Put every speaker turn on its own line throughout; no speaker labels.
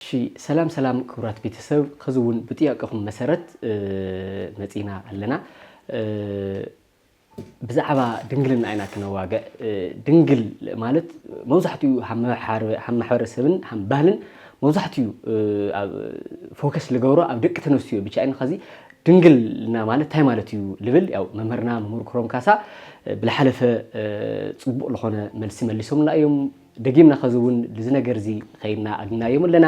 እሺ ሰላም ሰላም ክቡራት ቤተሰብ ከዚ ውን ብጥያቀኹም መሰረት መጺና ኣለና ብዛዕባ ድንግልና ኢና ክነዋገዕ ድንግል ማለት መብዛሕትኡ ሃም ማሕበረሰብን ሃም ባህልን መብዛሕትኡ ፎከስ ልገብሮ ኣብ ደቂ ተነስትዮ ብቻ ኢና ከዚ ድንግልና ማለት እንታይ ማለት እዩ ልብል ያው መምህርና መምህር ክሮም ካሳ ብልሓለፈ ጽቡቅ ልኾነ መልሲ መሊሶምልና እዮም ደጊምና ከዚ ውን ልዚ ነገር እዚ ከይድና ኣግናዮም ኣለና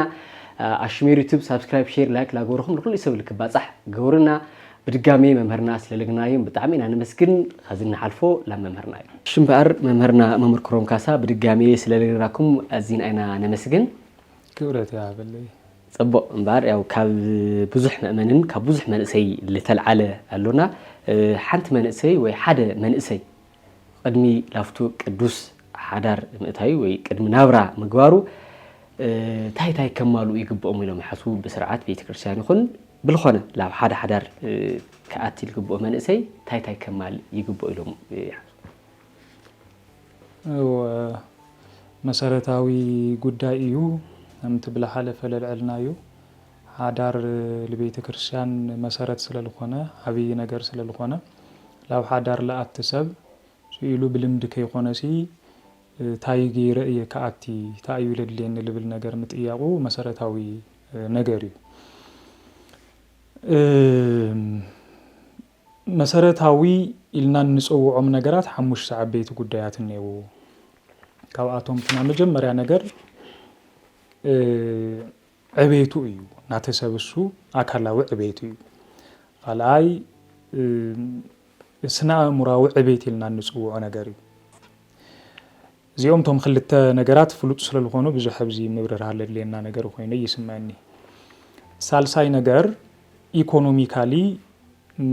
ኣሽሜር ዩቱብ ሳብስክራይብ ሼር ላይክ ላገበርኹም ንኹሉ ሰብ ልክባጻሕ ገበሩና ብድጋሜ መምህርና ስለለግናዮም ብጣዕሚ ኢና ነመስግን ከዚ ንሓልፎ ላብ መምህርና እዩ እሺ እምበኣር መምህርና መምህር ክሮም ካሳ ብድጋሜ ስለለግናኩም ኣዚና ኢና ነመስግን ክብረት
ይሃበለይ ጽቡቅ እምበኣር
ያው ካብ ብዙሕ መእመንን ካብ ብዙሕ መንእሰይ ልተልዓለ ኣሎና ሓንቲ መንእሰይ ወይ ሓደ መንእሰይ ቕድሚ ላፍቱ ቅዱስ ሓዳር ምእታዩ ወይ ቅድሚ ናብራ ምግባሩ ታይ ታይ ከማልኡ ይግብኦም ኢሎም ይሓስቡ ብስርዓት ቤተክርስትያን ይኹን ብልኾነ ላብ ሓደ ሓዳር ክኣቲ ልግብኦ መንእሰይ ታይ ታይ ከማል ይግብኦ ኢሎም ይሓስቡ?
መሰረታዊ ጉዳይ እዩ ከምቲ ብልሓለፈ ለልዐልናዮ ሓዳር ልቤተ ክርስቲያን መሰረት ስለ ልኾነ ዓብይ ነገር ስለ ልኾነ ላብ ሓዳር ልኣቲ ሰብ ስኢሉ ብልምዲ ከይኾነሲ ታይ ገይረ እየ ክኣቲ ታይ እዩ ለድልየኒ ልብል ነገር ምጥያቑ መሰረታዊ ነገር እዩ። መሰረታዊ ኢልና እንፅውዖም ነገራት ሓሙሽተ ዓበይቲ ጉዳያት እኔእዉ። ካብኣቶም ክና መጀመሪያ ነገር ዕቤቱ እዩ ናቲ ሰብ እሱ ኣካላዊ ዕቤት እዩ ኻልኣይ ስነኣእሙራዊ ዕቤት ኢልና እንፅውዖ ነገር እዩ እዚኦም ቶም ክልተ ነገራት ፍሉጥ ስለልኾኑ ብዙሕ ኣብዚ ምብርራህ ለድልየና ነገር ኮይኑ ይስመኒ ሳልሳይ ነገር ኢኮኖሚካሊ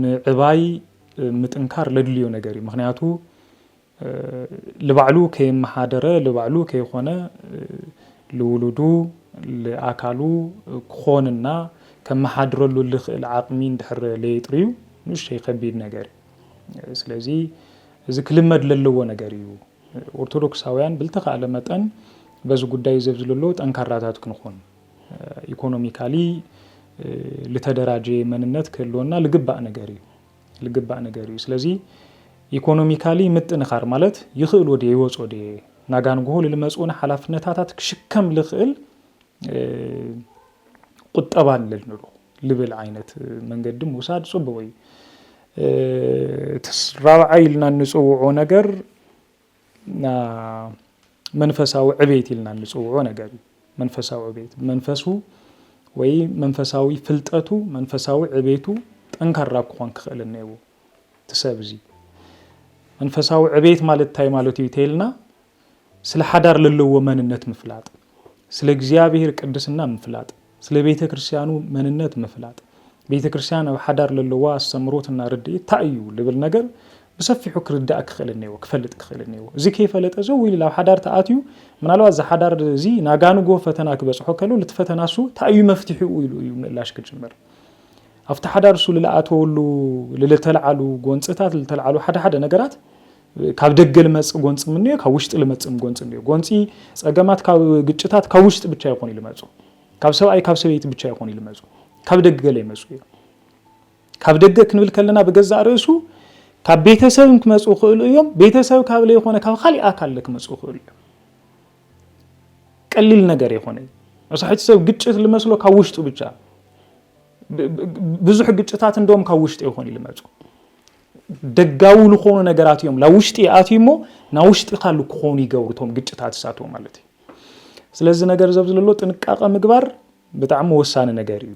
ምዕባይ ምጥንካር ለድልዮ ነገር እዩ ምክንያቱ ልባዕሉ ከይመሓደረ ልባዕሉ ከይኾነ ልውሉዱ ልኣካሉ ክኾን እና ከመሓድረሉ ልኽእል ዓቕሚ እንድሕር ለየጥርዩ ንእሽተይ ከቢድ ነገር እዩ። ስለዚ እዚ ክልመድ ለለዎ ነገር እዩ። ኦርቶዶክሳውያን ብልተኻእለ መጠን በዚ ጉዳይ እዚ ኣብዚ ለለዎ ጠንካራታት ክንኾን ኢኮኖሚካሊ ልተደራጀየ መንነት ክህልወና ልግባእ ነገር እዩ። ልግባእ ነገር እዩ ስለዚ ኢኮኖሚካሊ ምጥንኻር ማለት ይኽእልዎ ድየ ይወፅኦ ድየ ናጋንጉሆ ልልመፅኡን ሓላፍነታታት ክሽከም ልኽእል ቁጠባ ኣለልንዶ ልብል ዓይነት መንገዲ ምውሳድ ፅቡቕ እዩ እቲ ራብዓይ ኢልና እንፅውዖ ነገር መንፈሳዊ ዕቤት ኢልና እንፅውዖ ነገር እዩ። መንፈሳዊ ዕቤት መንፈሱ ወይ መንፈሳዊ ፍልጠቱ መንፈሳዊ ዕቤቱ ጠንካራ ክኾን ክኽእል እኒአዎ እቲ ሰብ እዚ መንፈሳዊ ዕቤት ማለት እንታይ ማለት እዩ ተይልና ስለ ሓዳር ለለዎ መንነት ምፍላጥ ስለ እግዚኣብሔር ቅድስና ምፍላጥ፣ ስለ ቤተ ክርስቲያኑ መንነት ምፍላጥ፣ ቤተ ክርስቲያን ኣብ ሓዳር ለለዋ ኣስተምሮትና ርድኢት እንታይ እዩ ልብል ነገር ብሰፊሑ ክርዳእ ክኽእል እኔዎ ክፈልጥ ክኽእል እኔዎ እዚ ከይፈለጠ ዘው ኢሉ ናብ ሓዳር ተኣትዩ ምናልባት እዚ ሓዳር እዚ ናጋንጎ ፈተና ክበፅሖ ከሎ ልቲ ፈተና እሱ እንታይ እዩ መፍትሒኡ ኢሉ እዩ ምእላሽ ክጅምር ኣብቲ ሓዳር እሱ ልለኣተወሉ ልልተልዓሉ ጎንፅታት ልተልዓሉ ሓደ ሓደ ነገራት ካብ ደገ ልመጽእ ጎንጺ ምንዮ ካብ ውሽጢ ልመጽእም ጎንጺ እንዮ። ጎንጺ ጸገማት ካብ ግጭታት ካብ ውሽጢ ብቻ ኣይኮኑይ ልመጹ። ካብ ሰብኣይ ካብ ሰበይቲ ብቻ ኣይኮኑይ ልመጹ። ካብ ደገ ለይመጹ እዮም። ካብ ደገ ክንብል ከለና ብገዛእ ርእሱ ካብ ቤተሰብም ክመጹ ይኽእሉ እዮም። ቤተሰብ ካብ ለይኾነ ካብ ካሊእ ኣካል ለክመጹ ይኽእሉ እዮም። ቀሊል ነገር ኣይኮነይ። መብዛሕቲ ሰብ ግጭት ልመስሎ ካብ ውሽጡ ብቻ ብዙሕ ግጭታት እንደም ካብ ውሽጢ ይኾኑ ልመጹ። ደጋዊ ልኾኑ ነገራት እዮም ላ ውሽጢ ይኣትዩ እሞ ናብ ውሽጢ ካሉ ክኾኑ ይገብሩ ቶም ግጭታት እሳትዎ ማለት እዩ ስለዚ ነገር ዘብ ዝለሎ ጥንቃቐ ምግባር ብጣዕሚ ወሳኒ ነገር እዩ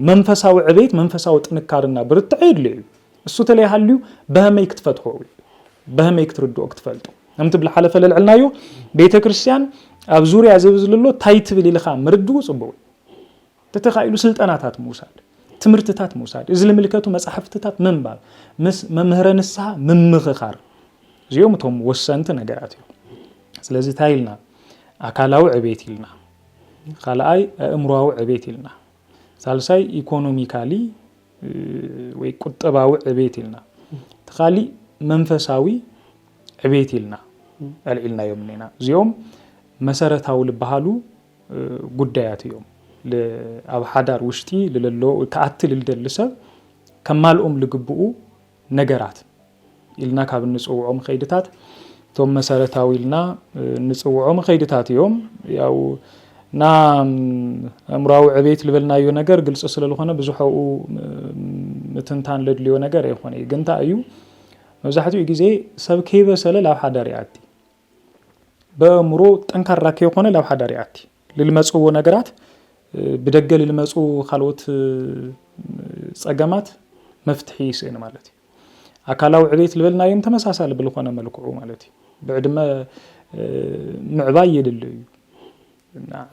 መንፈሳዊ ዕቤት መንፈሳዊ ጥንካርና ብርትዐ የድለ እዩ እሱ ተለይሃልዩ በህመይ ክትፈትሖ በህመይ ክትርድኦ ክትፈልጦ ከምቲ ብልሓለፈ ለልዕልናዮ ቤተ ክርስትያን ኣብ ዙርያ ዘብ ዝለሎ ታይ ትብል ኢልኻ ምርድኡ ፅቡቅ እዩ ተተኻኢሉ ስልጠናታት ምውሳድ፣ ትምህርትታት ምውሳድ፣ እዚ ልምልከቱ መጻሕፍትታት ምንባብ፣ ምስ መምህረ ንስሓ ምምኽኻር፣ እዚኦም እቶም ወሰንቲ ነገራት እዮም። ስለዚ እንታይ ኢልና ኣካላዊ ዕቤት ኢልና፣ ካልኣይ ኣእምሮዊ ዕቤት ኢልና፣ ሳልሳይ ኢኮኖሚካሊ ወይ ቁጠባዊ ዕቤት ኢልና እቲ ካሊእ መንፈሳዊ ዕቤት ኢልና ኣልዒልናዮም እኒና እዚኦም መሰረታዊ ዝበሃሉ ጉዳያት እዮም። ኣብ ሓዳር ውሽጢ ልለሎ ተኣቲ ልደሊ ሰብ ከማልኦም ልግብኡ ነገራት ኢልና ካብ እንፅውዖም ከይድታት እቶም መሰረታዊ ኢልና እንፅውዖም ከይድታት እዮም ያው እና እምራዊ ዕቤት ልበልናዮ ነገር ግልፂ ስለዝኾነ ብዙሐኡ ምትንታን ለድልዮ ነገር ኣይኮነ ግንታ እዩ መብዛሕትኡ ግዜ ሰብ ከይበሰለ ላብ ሓዳር ይኣቲ በእምሮ ጠንካራ ከይኾነ ላብ ሓዳር ይኣቲ ልልመፅዎ ነገራት ብደገ ልልመፁ ካልኦት ፀገማት መፍትሒ ይስእን ማለት እዩ። ኣካላዊ ዕቤት ልበልናዮም ተመሳሳሊ ብልኾነ መልክዑ ማለት እዩ ብዕድመ ምዕባይ የድሊ እዩ።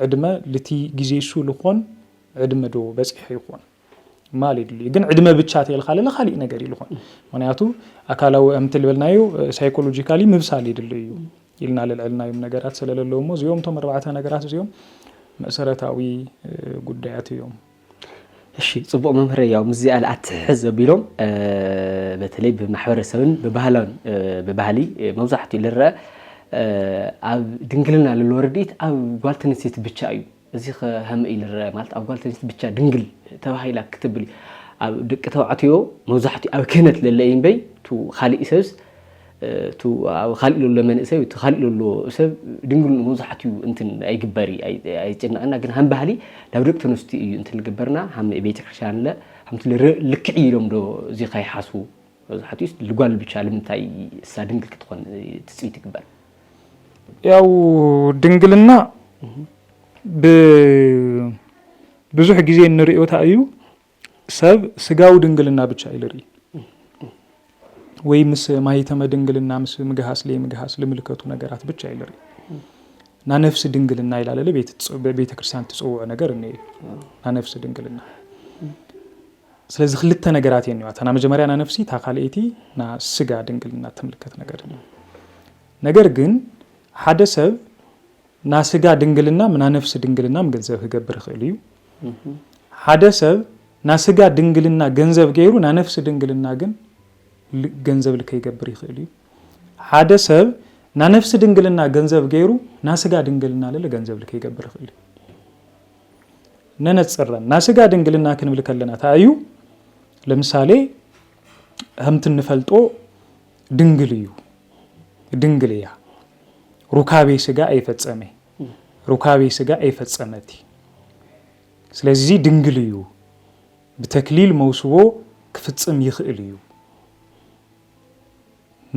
ዕድመ ልቲ ግዜ እሱ ልኾን ዕድመ ዶ በፂሐ ይኾን? ማል የድልዩ ግን ዕድመ ብቻ ተልካ ለለ ካሊእ ነገር እዩ ልኾን ምክንያቱ ኣካላዊ ኣምቲ ልበልናዮ ሳይኮሎጂካሊ ምብሳል ይድል እዩ ኢልና ልልዕልናዮም ነገራት ስለለለዎ እሞ እዚኦም ቶም ኣርባዕተ ነገራት እዚኦም መሰረታዊ ጉዳያት እዮም እሺ
ፅቡቅ መምህረ ያው ምስዚኣ ልኣትሕዝ ዘቢሎም በተለይ ብማሕበረሰብን ብባህላን ብባህሊ መብዛሕትኡ ልረአ ኣብ ድንግልና ለለዎ ርድኢት ኣብ ጓልተንሴት ብቻ እዩ እዚኸ ሀምእይ ልረኣ ማለት ኣብ ጓል ተንስት ብቻ ድንግል ተባሂላ ክትብል እዩ ኣብ ድቂ ተባዕትዮ መብዛሕትኡ ኣብ ክህነት ለለ እዩ እምበይ ቱ ኻሊእ ሰብስ ቱ ኣብ ኻሊእ ለሎ መንእሰይ ቱ ኻሊእ ለሎ ሰብ ድንግል መብዛሕትኡ እንትን ኣይግበሪ ኣይጭነቕና ግን ሃም ባህሊ ናብ ድቂ ተንስቲ እዩ እንትን ልግበርና ሃም ቤተክርስትያን ለ ሃምቲ ልርእ ልክዕ ኢሎም ዶ እዚኸ ይሓስቡ መብዛሕትኡስ ልጓል ብቻ ልምንታይ እሳ ድንግል ክትኾን ትፅቢት ይግበር
ያው ድንግልና ብዙሕ ግዜ እንሪኦ እንታይ እዩ ሰብ ስጋዊ ድንግልና ብቻ እዩ ዝርኢ ወይ ምስ ማይተመ ድንግልና ምስ ምግሃስ ለይምግሃስ ልምልከቱ ነገራት ብቻ እዩ ዝርኢ ና ነፍሲ ድንግልና ይላለለ ቤተ ክርስቲያን ትፅውዖ ነገር እኒአ ና ነፍሲ ድንግልና ስለዚ ክልተ ነገራት እየን እታ ናይ መጀመርያ ናይ ነፍሲ እታ ካልኣይቲ ናይ ስጋ ድንግልና እትምልከት ነገር እያ። ነገር ግን ሓደ ሰብ ናይ ስጋ ድንግልና ናይ ነፍሲ ድንግልና ገንዘብ ክገብር ይኽእል እዩ። ሓደ ሰብ ናይ ስጋ ድንግልና ገንዘብ ገይሩ ናይ ነፍሲ ድንግልና ግን ገንዘብ ልከይገብር ይኽእል እዩ። ሓደ ሰብ ናይ ነፍሲ ድንግልና ገንዘብ ገይሩ ናይ ስጋ ድንግልና ልለ ገንዘብ ልከይገብር ይኽእል እዩ። ነነጽረን ናይ ስጋ ድንግልና ክንብል ከለና እንታይ እዩ ለምሳሌ ከምቲ እንፈልጦ ድንግል እዩ ድንግል እያ ሩካቤ ስጋ ኣይፈጸመ ሩካቤ ስጋ ኣይፈጸመት ስለዚ ድንግል እዩ ብተክሊል መውስቦ ክፍጽም ይኽእል እዩ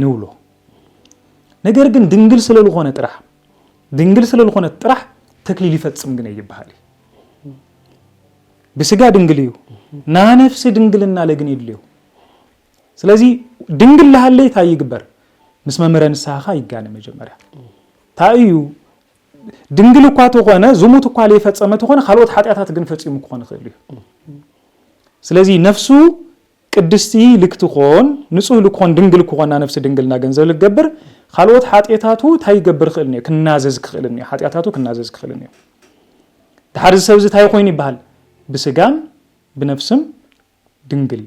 ንብሎ ነገር ግን ድንግል ስለልኾነ ጥራሕ ድንግል ስለልኾነት ጥራሕ ተክሊል ይፈጽም ግን ይበሃል እዩ ብስጋ ድንግል እዩ ናነፍሲ ድንግልና ለግን የድልዮ ስለዚ ድንግል ላሃለይ ታይ ይግበር ምስ መምህረ ንስሃኻ ይጋነ መጀመርያ ታይ እዩ ድንግል እኳ ተኾነ ዝሙት እኳ ለይፈፀመ ተኾነ ካልኦት ሓጢኣታት ግን ፈፂሙ ክኾን ይኽእል እዩ ስለዚ ነፍሱ ቅድስቲ ልክትኮን ንጹህ ልኮን ድንግል ክኮና ነፍሲ ድንግልና ገንዘብ ልገብር ካልኦት ሓጥየታቱ ታይ ይገብር ክእል እኒኦ ክናዘዝ ክእል እኒኦ ሓጥያታቱ ክናዘዝ ክእል እኒኦ ድሓር እዚ ሰብ እዚ ታይ ኮይኑ ይበሃል ብስጋን ብነፍስም ድንግል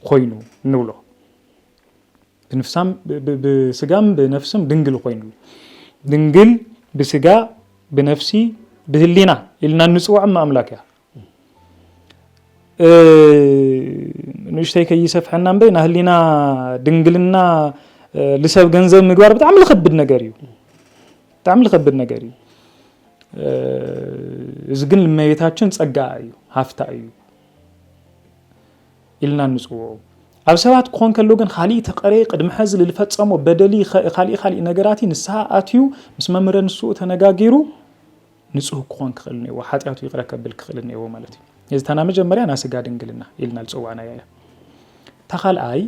ኮይኑ ንብሎ ብንፍሳም ብስጋም ብነፍስም ድንግል ኮይኑ ድንግል ብስጋ ብነፍሲ ብህሊና ኢልና እንፅውዖም ኣምላክ እያ ንእሽተይ ከይሰፍሐና እምበይ ናህሊና ድንግልና ልሰብ ገንዘብ ምግባር ብጣዕሚ ልኸብድ ነገር እዩ ብጣዕሚ ልኸብድ ነገር እዩ እዚ ግን ልመቤታችን ጸጋ እዩ ሃፍታ እዩ ኢልና ንጽውዑ ኣብ ሰባት ክኾን ከሎ ግን ካሊእ ተቐረ ቅድሚ ሕዚ ልፈጸሞ በደሊ ካሊእ ካሊእ ነገራት ንስሓ ኣትዩ ምስ መምህረ ንስኡ ተነጋጊሩ ንጹህ ክኾን ክኽእል እኔዎ፣ ሓጢኣቱ ይቕረ ከብል ክኽእል እኔዎ ማለት እዩ። እዚ እታ ናይ መጀመርያ ናይ ስጋ ድንግልና ኢልና ዝጸዋዕናያ እያ። እታ ካልኣይ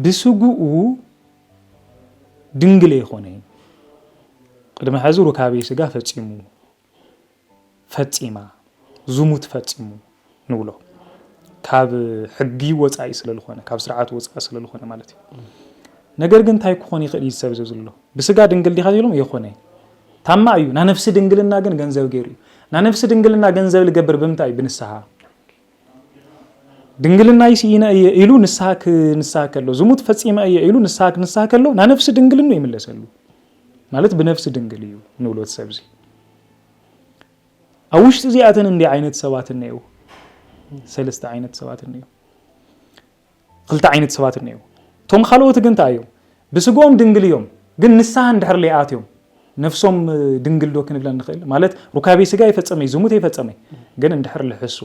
ብስግኡ ድንግል ኣይኮነን፣ ቅድሚ ሕዚ ሩካቤ ስጋ ፈጺሙ ፈጺማ፣ ዝሙት ፈጺሙ ንብሎ። ካብ ሕጊ ወጻኢ ስለ ዝኾነ፣ ካብ ስርዓት ወጻኢ ስለ ዝኾነ ማለት እዩ። ነገር ግን እንታይ ክኾን ይኽእል እዩ ሰብ እዚ ዝብሎ? ብስጋ ድንግል ዲኻ ዝብሎም የኾነ ታማ እዩ ናነፍሲ ድንግልና ግን ገንዘብ ገይሩ እዩ ናነፍሲ ድንግልና ገንዘብ ልገብር ብምንታይ ብንስሓ ድንግልና ይስኢነ እየ ኢሉ ንስሓ ክንስሓ ከሎ ዝሙት ፈፂመ እየ ኢሉ ንስሓ ክንስሓ ከሎ ናነፍሲ ድንግልኑ ይምለሰሉ ማለት ብነፍሲ ድንግል እዩ ንብሎት ሰብዚ ኣብ ውሽጢ እዚኣተን እንዲይ ዓይነት ሰባት እኔዉ ሰለስተ ዓይነት ሰባት እኔዉ ክልተ ዓይነት ሰባት እኔዉ እቶም ካልኦት ግን እንታይ እዮም ብስግኦም ድንግል እዮም ግን ንስሓ እንድሕር ለይኣትዮም ነፍሶም ድንግል ዶ ክንብለን ንኽእል ማለት ሩካቤ ስጋ የፈጸመ እዩ ዝሙት የፈጸመ ግን እንድሕር ልሕሱ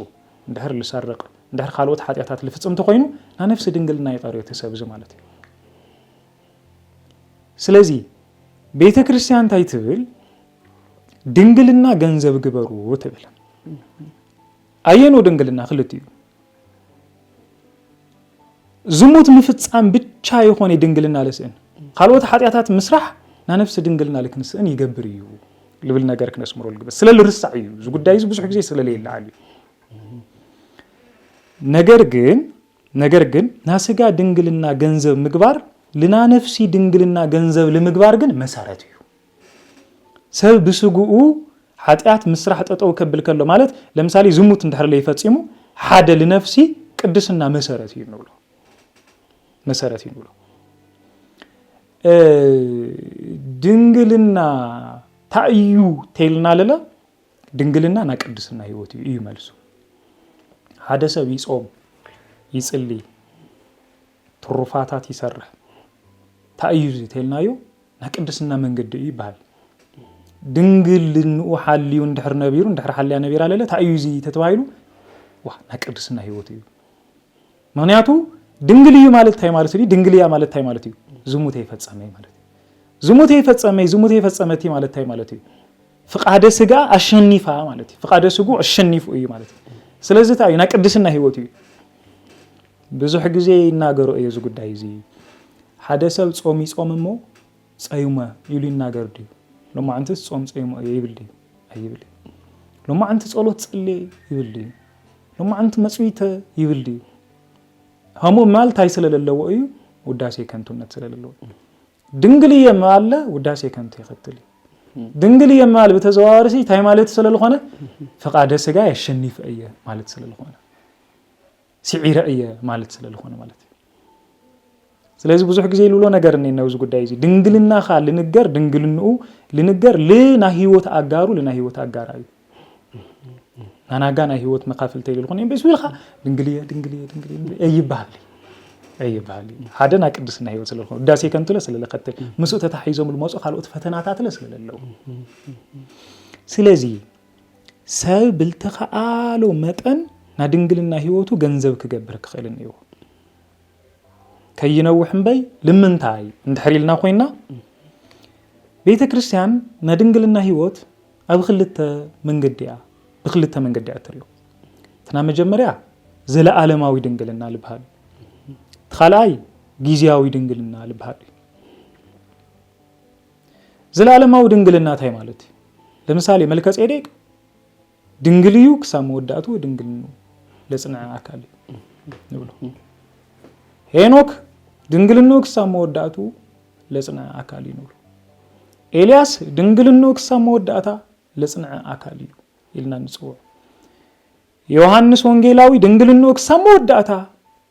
እንድሕር ልሰርቅ እንድሕር ካልኦት ሓጢኣታት ልፍጽም እንተኾይኑ ናይ ነፍሲ ድንግልና ይቐርዮ እቲ ሰብ እዚ ማለት እዩ ስለዚ ቤተ ክርስቲያን እንታይ ትብል ድንግልና ገንዘብ ግበሩ ትብል ኣየኖ ድንግልና ክልትኡ ዝሙት ምፍፃም ብቻ ይኾነ ድንግልና ልስእን ካልኦት ሓጢኣታት ምስራሕ ናነብሲ ድንግልና ልክንስእን ይገብር እዩ ልብል ነገር ክነስምሮ ልግበ ስለ ልርሳዕ እዩ እዚ ጉዳይ እዚ ብዙሕ ግዜ ስለለየለዓል እዩ ነገር ግን ነገር ግን ናስጋ ድንግልና ገንዘብ ምግባር ልናነፍሲ ድንግልና ገንዘብ ልምግባር ግን መሰረት እዩ ሰብ ብስግኡ ሓጢኣት ምስራሕ ጠጠው ከብል ከሎ ማለት ለምሳሌ ዝሙት እንድሕር ለይፈፂሙ ሓደ ልነፍሲ ቅድስና መሰረት እዩ ንብሎ መሰረት እዩ ንብሎ ድንግልና ታእዩ ተይልና ለለ ድንግልና ና ቅድስና ህይወት እዩ እዩ መልሱ ሓደ ሰብ ይፆም ይፅሊ ትሩፋታት ይሰርሕ ታይ እዩ እዚ ተልናዮ ናይ ቅድስና መንገዲ እዩ ይበሃል ድንግልንኡ ሓልዩ እንድሕር ነቢሩ እንድሕር ሓልያ ነቢራ ለለ እንታይ እዩ እዚ ተተባሂሉ ዋ ናይ ቅድስና ህይወት እዩ ምክንያቱ ድንግል እዩ ማለት እንታይ ማለት እዩ ድንግል እያ ማለት እንታይ ማለት እዩ ዝሙት የፈፀመ ማለት እዩ ዝሙት የፈፀመ ዝሙት የፈፀመቲ ማለት እንታይ ማለት እዩ ፍቃደ ስጋ ኣሸኒፋ ማለት እዩ ፍቃደ ስጉ ኣሸኒፉ እዩ ማለት እዩ ስለዚ እንታይ እዩ ናይ ቅድስና ህይወት እዩ ብዙሕ ግዜ ይናገሮ እየ እዚ ጉዳይ እዚ ሓደ ሰብ ጾም ይጾም እሞ ጸዩመ ኢሉ ይናገር ድዩ ሎማዕንትስ ጾም ጸዩመ እየ ይብል ድዩ ኣይብል እዩ ሎማዕንቲ ጸሎት ጸልየ ይብል ድዩ ሎማዕንቲ መጽዊተ ይብል ድዩ ሀሞ ማል ታይ ስለለለዎ እዩ ውዳሴ ከንቱነት ስለለለዎ ድንግል እየ ማለ ውዳሴ ከንቱ ይኸትል እዩ ድንግል እየ ማል ብተዘዋዋሪ ታይ ማለት ስለዝኾነ ፍቃደ ስጋ የሸኒፍ እየ ማለት ስለዝኾነ ሲዒረ እየ ማለት ስለልኾነ ማለት እዩ ስለዚ ብዙሕ ግዜ ልብሎ ነገር እኒ ነብዚ ጉዳይ እዚ ድንግልናኻ ልንገር ድንግልንኡ ልንገር ልናይ ህይወት ኣጋሩ ልናይ ህይወት ኣጋራ እዩ ናናጋ ናይ ህይወት መካፍልተ ልኾነ በሱ ኢልካ ድንግልየ ድንግልየ ድንግልየ ኣይበሃል ኣይበሃል ሓደ ናይ ቅድስና ህይወት ስለልኾነ ውዳሴ ከንትለ ስለለከትል ምስኡ ተታሒዞም ልመፁ ካልኦት ፈተናታትለ ስለለለዉ ስለዚ ሰብ ብልተኸኣሎ መጠን ናድንግልና ህይወቱ ገንዘብ ክገብር ክኽእል እኒዎ ከይነውሕ እምበይ ልምንታይ እንድሕር ኢልና ኮይና ቤተ ክርስቲያን ናይ ድንግልና ህይወት ኣብ ክልተ መንገዲ እያ ብክልተ መንገዲ እያ እትሪኦ እትና መጀመርያ ዘለኣለማዊ ድንግልና ልበሃል እቲ ካልኣይ ጊዜያዊ ድንግልና ልበሃል እዩ ዘለኣለማዊ ድንግልና እንታይ ማለት እዩ? ለምሳሌ መልከጼዴቅ ድንግል እዩ ክሳብ መወዳእቱ ድንግልኑ ለጽንዐ ኣካል እዩ ንብሎ። ሄኖክ ድንግልኑ ክሳብ መወዳእቱ ለጽንዐ ኣካል እዩ ንብሎ። ኤልያስ ድንግልኑ ክሳብ መወዳእታ ለጽንዐ ኣካል እዩ ኢልና ንጽውዕ። ዮሃንስ ወንጌላዊ ድንግልኑ ክሳብ መወዳእታ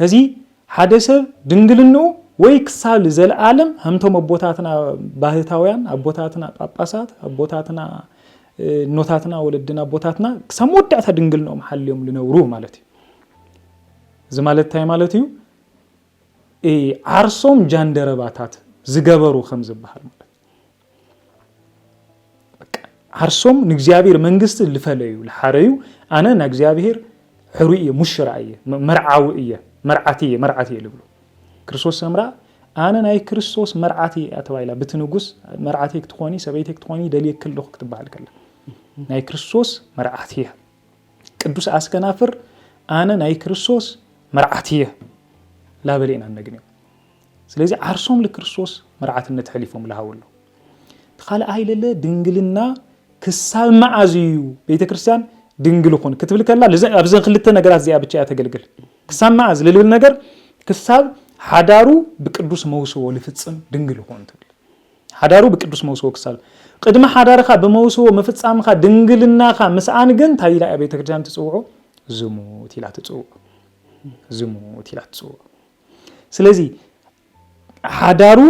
ሕዚ ሓደ ሰብ ድንግልንኡ ወይ ክሳብ ልዘለዓለም ሀምቶም ኣቦታትና ባህታውያን ኣቦታትና ጳጳሳት ኣቦታትና እኖታትና ወለድና ኣቦታትና ክሳብ መወዳእታ ድንግልንኦም ሓልዮም ልነብሩ ማለት እዩ እዚ ማለት እንታይ ማለት እዩ ዓርሶም ጃንደረባታት ዝገበሩ ከም ዝበሃል ማለት ዓርሶም ንእግዚኣብሔር መንግስቲ ልፈለዩ ልሓረዩ ኣነ ናይ እግዚኣብሔር ሕሩይ እየ ሙሽራ እየ መርዓዊ እየ መርዓት እየ መርዓት እየ ልብሉ ክርስቶስ ሰምራ ኣነ ናይ ክርስቶስ መርዓት እየ ተባሂላ ብቲ ንጉስ መርዓት ክትኾኒ ሰበይቲ ክትኾኒ ደልየ ክልኹ ክትበሃል ከላ ናይ ክርስቶስ መርዓት እየ ቅዱስ ኣስከናፍር ኣነ ናይ ክርስቶስ መርዓት እየ ላበለ ኢና እነግንዮ ስለዚ ዓርሶም ልክርስቶስ መርዓትነት ሐሊፎም ልሃቡ ኣሎ ትኻልኣይ ለለ ድንግልና ክሳብ መዓዝ እዩ ቤተ ክርስቲያን ድንግል ኹን ክትብል ከላ ኣብዚ ክልተ ነገራት እዚኣ ብቻ እያ ተገልግል ክሳብ መዓዝ ልልብል ነገር ክሳብ ሓዳሩ ብቅዱስ መውስቦ ልፍጽም ድንግል ይኹን ትብል ሓዳሩ ብቅዱስ መውስቦ ክሳብ ቅድሚ ሓዳርካ ብመውስቦ ምፍጻምካ ድንግልናካ ምስኣን ግን እንታይ ኢላ እያ ቤተክርስትያን ትጽውዖ ዝሙት ኢላ ትጽውዖ ዝሙት ኢላ ትጽውዖ ስለዚ ሓዳሩ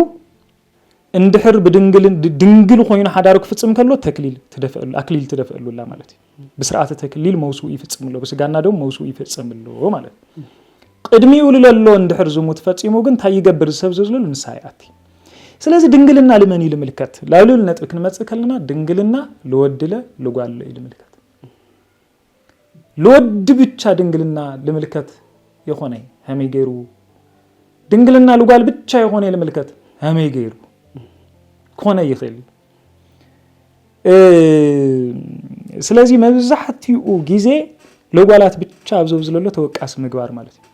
እንድሕር ብድንግል ድንግል ኮይኑ ሓዳሩ ክፍጽም ከሎ ተክሊል ትደፈሉ ኣክሊል ትደፈሉላ ማለት እዩ ብስርዓተ ተክሊል መውስኡ ይፍጽምሎ ብስጋና ደም መውስኡ ይፈጸምሎ ማለት እዩ ቅድሚኡ ልለሎ እንድሕር ዝሙት ፈጺሙ ግን እንታይ ይገብር ዝሰብ ዝዝልሉ ንሳ ይኣቲ ስለዚ ድንግልና ልመን እዩ ልምልከት ላሉል ነጥቢ ክንመጽእ ከለና ድንግልና ልወድለ ልጓሎ እዩ ልምልከት ልወዲ ብቻ ድንግልና ልምልከት የኾነይ ሀመይ ገይሩ ድንግልና ልጓል ብቻ የኾነይ ልምልከት ሀመይ ገይሩ ክኾነ ይኽእል ስለዚ መብዛሕትኡ ግዜ ለጓላት ብቻ ኣብዘብዝለሎ ተወቃሲ ምግባር ማለት እዩ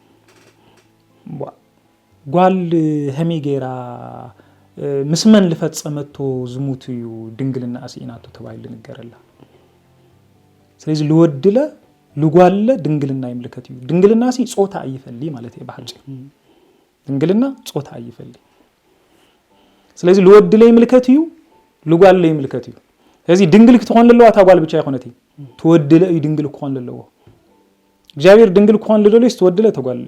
ጓል ሀሚ ገይራ ምስ መን ልፈፀመቶ ዝሙት እዩ ድንግልናኣ ስኢናቶ ተባሂሉ ልንገረላ ስለዚ ልወድለ ልጓልለ ድንግልና ይምልከት እዩ ድንግልና ሲ ፆታ ኣይፈሊ ማለት እየ ብሓፂሩ ድንግልና ፆታ ኣይፈሊ ስለዚ ልወድለ ይምልከት እዩ ልጓልለ ይምልከት እዩ ስለዚ ድንግል ክትኾን ለለዋ እታ ጓል ብቻ ይኮነት እዩ ትወድለ እዩ ድንግል ክኾን ለለዎ እግዚኣብሔር ድንግል ክኾን ልደልዩስ ትወድለ ተጓል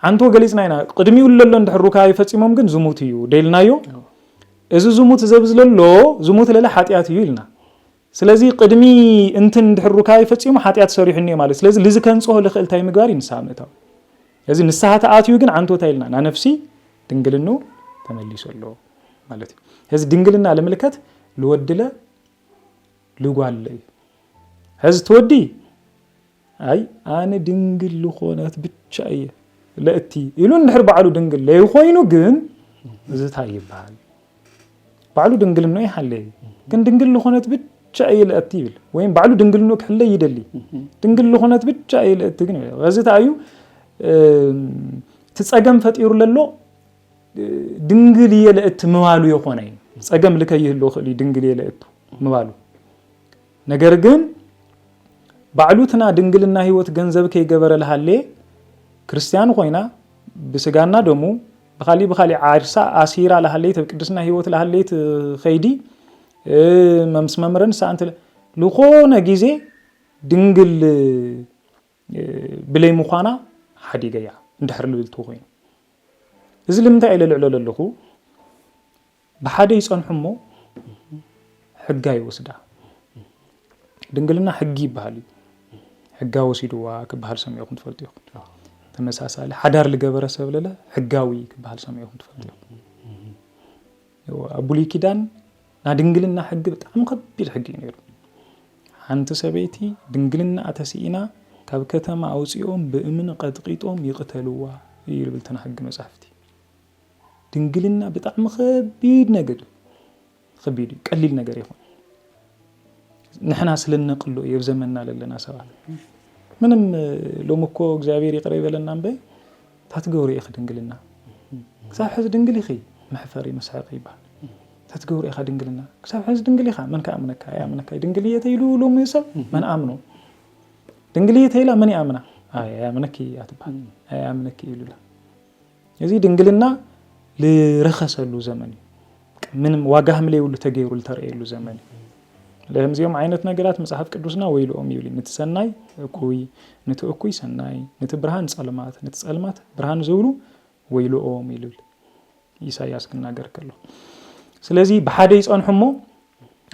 ዓንቶ ገሊጽና ኢና ቅድሚኡ ለሎ እንድሕር ሩካቤ ፈጺሞም ግን ዝሙት እዩ ደልናዮ እዚ ዝሙት ዘብ ዝለሎ ዝሙት ለለ ሓጢኣት እዩ ኢልና ስለዚ ቅድሚ እንትን እንድሕር ሩካቤ ፈጺሙ ሓጢኣት ሰሪሑ እኒኦ ማለት ስለዚ ልዚ ከንጽሆ ልኽእል እንታይ ምግባር እዩ ንስሓ ምእታው እዚ ንስሓ ተኣትዩ ግን ዓንቶ እንታይ ኢልና ናነፍሲ ድንግልኑ ተመሊሱ ኣሎ ማለት እዩ እዚ ድንግልና ልምልከት ልወድለ ልጓል እዩ ሕዚ ትወዲ ኣይ ኣነ ድንግል ልኾነት ብቻ እየ ለእቲ ኢሉ እንድሕር ባዕሉ ድንግል ለይኮይኑ ግን እዚ እንታይ ይበሃል ባዕሉ ድንግልኖ ይሓለየ ግን ድንግል ልኾነት ብቻ እየ ለእቲ ይብል ወይም ባዕሉ ድንግልኖ ክሕለ ይደሊ ድንግል ልኾነት ብቻ እየ ለእቲ ግን እዚ እንታይ እዩ እቲ ፀገም ፈጢሩ ለሎ ድንግል እየ ለእት ምባሉ የኾነ ፀገም ልከይህሉ ክእል እዩ ድንግል እየ ለእቱ ምባሉ ነገር ግን ባዕሉትና ድንግልና ህይወት ገንዘብ ከይገበረ ልሃሌ ክርስቲያን ኮይና ብስጋና ደሙ ብካሊእ ብካሊእ ዓርሳ ኣሲራ ልሃለይት ኣብ ቅድስና ህይወት ልሃለይት ከይዲ መምስ መምረን ሰኣንት ልኮነ ግዜ ድንግል ብለይ ምዃና ሓዲገያ እንድሕር ልብልቲ ኮይኑ እዚ ልምንታይ ኢለ ልዕሎ ለለኹ ብሓደ ይፀንሑ እሞ ሕጋ ይወስዳ ድንግልና ሕጊ ይበሃል እዩ ሕጋ ወሲድዋ ክበሃል ሰሚዕኹም ትፈልጡ ኢኹም ተመሳሳሊ ሓዳር ዝገበረ ሰብ ለለ ሕጋዊ ክበሃል ሰሚዕኹም ትፈልጡ ኢኹም ኣብ ብሉይ ኪዳን ናይ ድንግልና ሕጊ ብጣዕሚ ከቢድ ሕጊ እዩ ነይሩ። ሓንቲ ሰበይቲ ድንግልና እተስኢና ካብ ከተማ ኣውፂኦም ብእምኒ ቀጥቂጦም ይቕተልዋ እዩ ልብልትና ሕጊ መፅሓፍቲ። ድንግልና ብጣዕሚ ከቢድ ነገር እዩ። ከቢድ እዩ፣ ቀሊል ነገር ይኹን ንሕና ስለነቅሎ እየብ ዘመንና ለለና ሰባት ምንም ሎሚ እኮ እግዚኣብሔር ይቅረ ይበለና እምበይ ታትገብርዮ ኢኪ ድንግልና ክሳብ ሐዚ ድንግል ኢኪ መሕፈሪ መስሐቂ ይባል ታትገብርዮ ኢካ ድንግልና ክሳብ ሐዚ ድንግል ኢካ መን ክኣምነካ ኣይኣምነካ ድንግል እየ ተይሉ ሎሚ ሰብ መን ኣምኖ ድንግል እየ ተይላ መን ይኣምና ኣይኣምነኪ እያ ትባል ኣይኣምነኪ ኢሉላ እዚ ድንግልና ዝረከሰሉ ዘመን እዩ ምንም ዋጋ ከም ዘይብሉ ተገይሩ ዝተረእየሉ ዘመን እዩ ለምዚኦም ዓይነት ነገራት መጽሓፍ ቅዱስና ወይልኦም ይብል ንቲ ሰናይ እኩይ ንቲ እኩይ ሰናይ ንቲ ብርሃን ጸልማት ንቲ ጸልማት ብርሃን ዝብሉ ወይልኦም ይልብል ኢሳያስ ክናገር ከሎ ስለዚ ብሓደ ይጸንሑ እሞ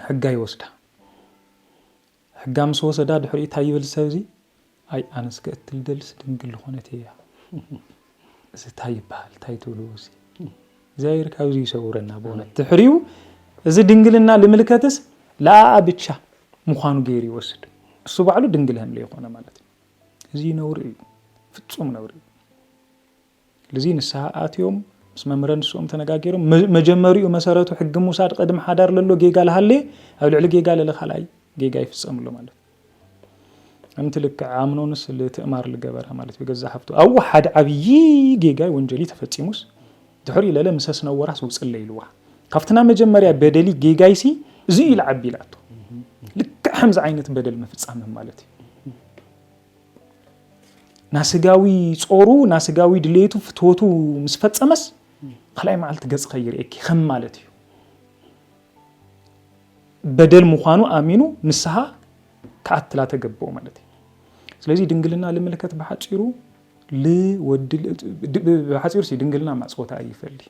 ሕጋ ይወስዳ ሕጋ ምስ ወሰዳ ድሕሪኡ ታይ ይብል ሰብዚ ኣይ ኣነስ ክእትል ዝደልስ ድንግል ልኾነት እያ እዚ ታይ ይበሃል ታይ ትብልዎ እዚ እግዚኣብሔር ካብዚ ይሰውረና ብእውነት ድሕሪኡ እዚ ድንግልና ልምልከትስ ለኣኣ ብቻ ምዃኑ ገይሩ ይወስድ እሱ ባዕሉ ድንግል ሀምለ ይኾነ ማለት እዩ እዚ ነውሪ እዩ ፍፁም ነውሪ እዩ ልዚ ንስሃ ኣትዮም ምስ መምህረ ንስኦም ተነጋጊርም መጀመሪኡ መሰረቱ ሕጊ ምውሳድ ቅድም ሓዳር ለሎ ጌጋ ልሃሌ ኣብ ልዕሊ ጌጋ ለለ ካልኣይ ጌጋ ይፍጸምሎ ማለት እምቲ ልክዕ ኣምኖንስ ልትእማር ልገበራ ማለት ብገዛ ሃፍቱ ኣው ሓደ ዓብዪ ጌጋይ ወንጀሊ ተፈጺሙስ ድሕሪ ለለ ምሰስ ነወራስ ውጽለ ኢልዋ ካብትና መጀመርያ በደሊ ጌጋይሲ እዚ ኢሉ ዓቢ ኢላቶ ልክዕ ከምዚ ዓይነት በደል ምፍጻምም ማለት እዩ ናስጋዊ ጾሩ ናስጋዊ ድሌቱ ፍትወቱ ምስ ፈጸመስ ካልኣይ መዓልቲ ገጽ ከይርእየኪ ከም ማለት እዩ በደል ምዃኑ ኣሚኑ ንስሃ ክኣትላ ተገብኦ ማለት እዩ ስለዚ ድንግልና ልምልከት ብሓፂሩ ልወዲ ብሓፂሩ ድንግልና ማፅወታ ኣይፈልይ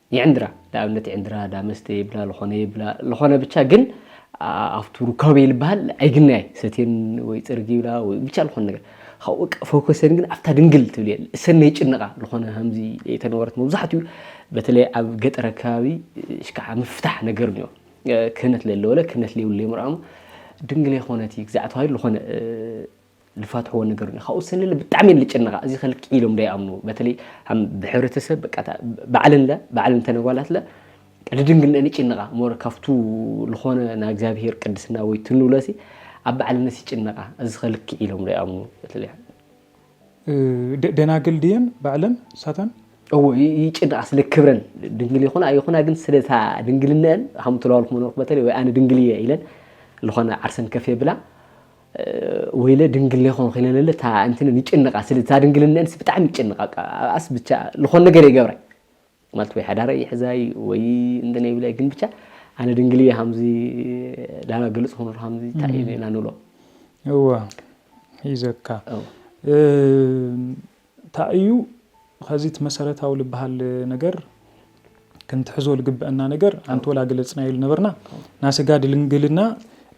ይዕንድራ ንኣብነት ይዕንድራ እዳ መስተ ይብላ ልኾነ ይብላ ልኾነ ብቻ ግን ኣብቱ ሩካቤ ልበሃል ኣይግናይ ሰቴን ወይ ፅርግ ይብላ ወይ ብቻ ልኾነ ነገር ካብኡ በቃ ፎከሰን ግን ኣብታ ድንግል ትብል እየን እሰነ ይጭንቓ ልኾነ ከምዚ የተነበረት መብዛሕትኡ በተለይ ኣብ ገጠር ኣካባቢ ሽካዓ ምፍታሕ ነገር እኒኦ ክህነት ለለወለ ክህነት ለይብሉ ለይምርኣሙ ድንግል የኾነት እዩ ግዛዕ ተባሂሉ ልኾነ ልፋትሕዎ ነገሩኒ ካብኡ ሰለለ ብጣዕሚ እየን ልጭነቃ እዚከ ልክዕ ኢሎም ዶ ይኣምኑ በተለይ ሃም ብሕብረተሰብ በቃ እታ ባዕለን ለ ባዕለን እተን ኣጓላት ለ ልድንግልነን ይጭነቃ ሞር ካብቱ ልኾነ ናይ እግዚኣብሄር ቅድስና ወይ እቲ ንብሎ ሲ ኣብ ባዕለንስ ይጭነቃ እዚከ ልክዕ ኢሎም ዶ ይኣምኑ በተለይ ደ-
ደናግል ድየን ባዕለን ንሳተን እዎ ይ-
ይጭነቃ ስለ ክብረን ድንግል ይኹና ኣይኹና ግን ስለ እታ ድንግልነአን ሃም ተለዋልኩም ነበርኩ በተለይ ወይ ኣነ ድንግል እየ ኢለን ልኾነ ዓርሰን ከፍ የብላ ወይለ ድንግሌ ኾንኺ ለለለ እታ እንትን ይጭንቃ ስለ እታ ድንግልነንስ ብጣዕሚ ይጭንቃ ኣስ ብቻ ልኾን ነገር ይገብራይ ማለት ወይ ሓዳረይ ይሕዛይ ወይ እንትን ይብላይ ግን ብቻ ኣነ ድንግል እየ ሃምዚ ዳና ግልፅ ኾኑ ሃምዚ እንታይ እዩ ኢና ንብሎ እወ
ሒዘካ ታይ እዩ ኸዚ እቲ መሰረታዊ ልበሃል ነገር ክንትሕዞ ልግበእና ነገር ኣንቲ ወላ ገለፅናዮ ልነበርና ናስጋ ድልንግልና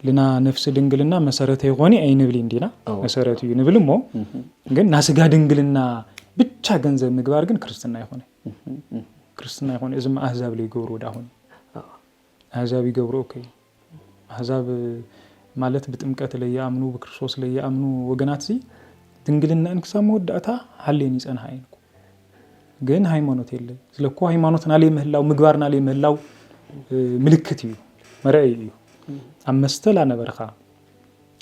ልና ነፍሲ ድንግልና መሰረተ ይኾኒ ኣይንብሊን ዲና መሰረት እዩ ንብል እሞ ግን ናስጋ ድንግልና ብቻ ገንዘብ ምግባር ግን ክርስትና ይኾነ ክርስትና ይኾነ እዚማ ኣህዛብ ለይገብሩ ዳኹን ኣሕዛብ ይገብርኦ ከይ ኣሕዛብ ማለት ብጥምቀት ለይኣምኑ ብክርስቶስ ለይኣምኑ ወገናትሲ ድንግልናኤን ክሳብ መወዳእታ ሃልየን ይጸንሓ እየን እኮ ግን ሃይማኖት የለን ስለ እኮ ሃይማኖትና ለይምህላው ምግባርና ለይምህላው ምልክት እዩ መርኣይ እዩ ኣብ መስተ ላነበርካ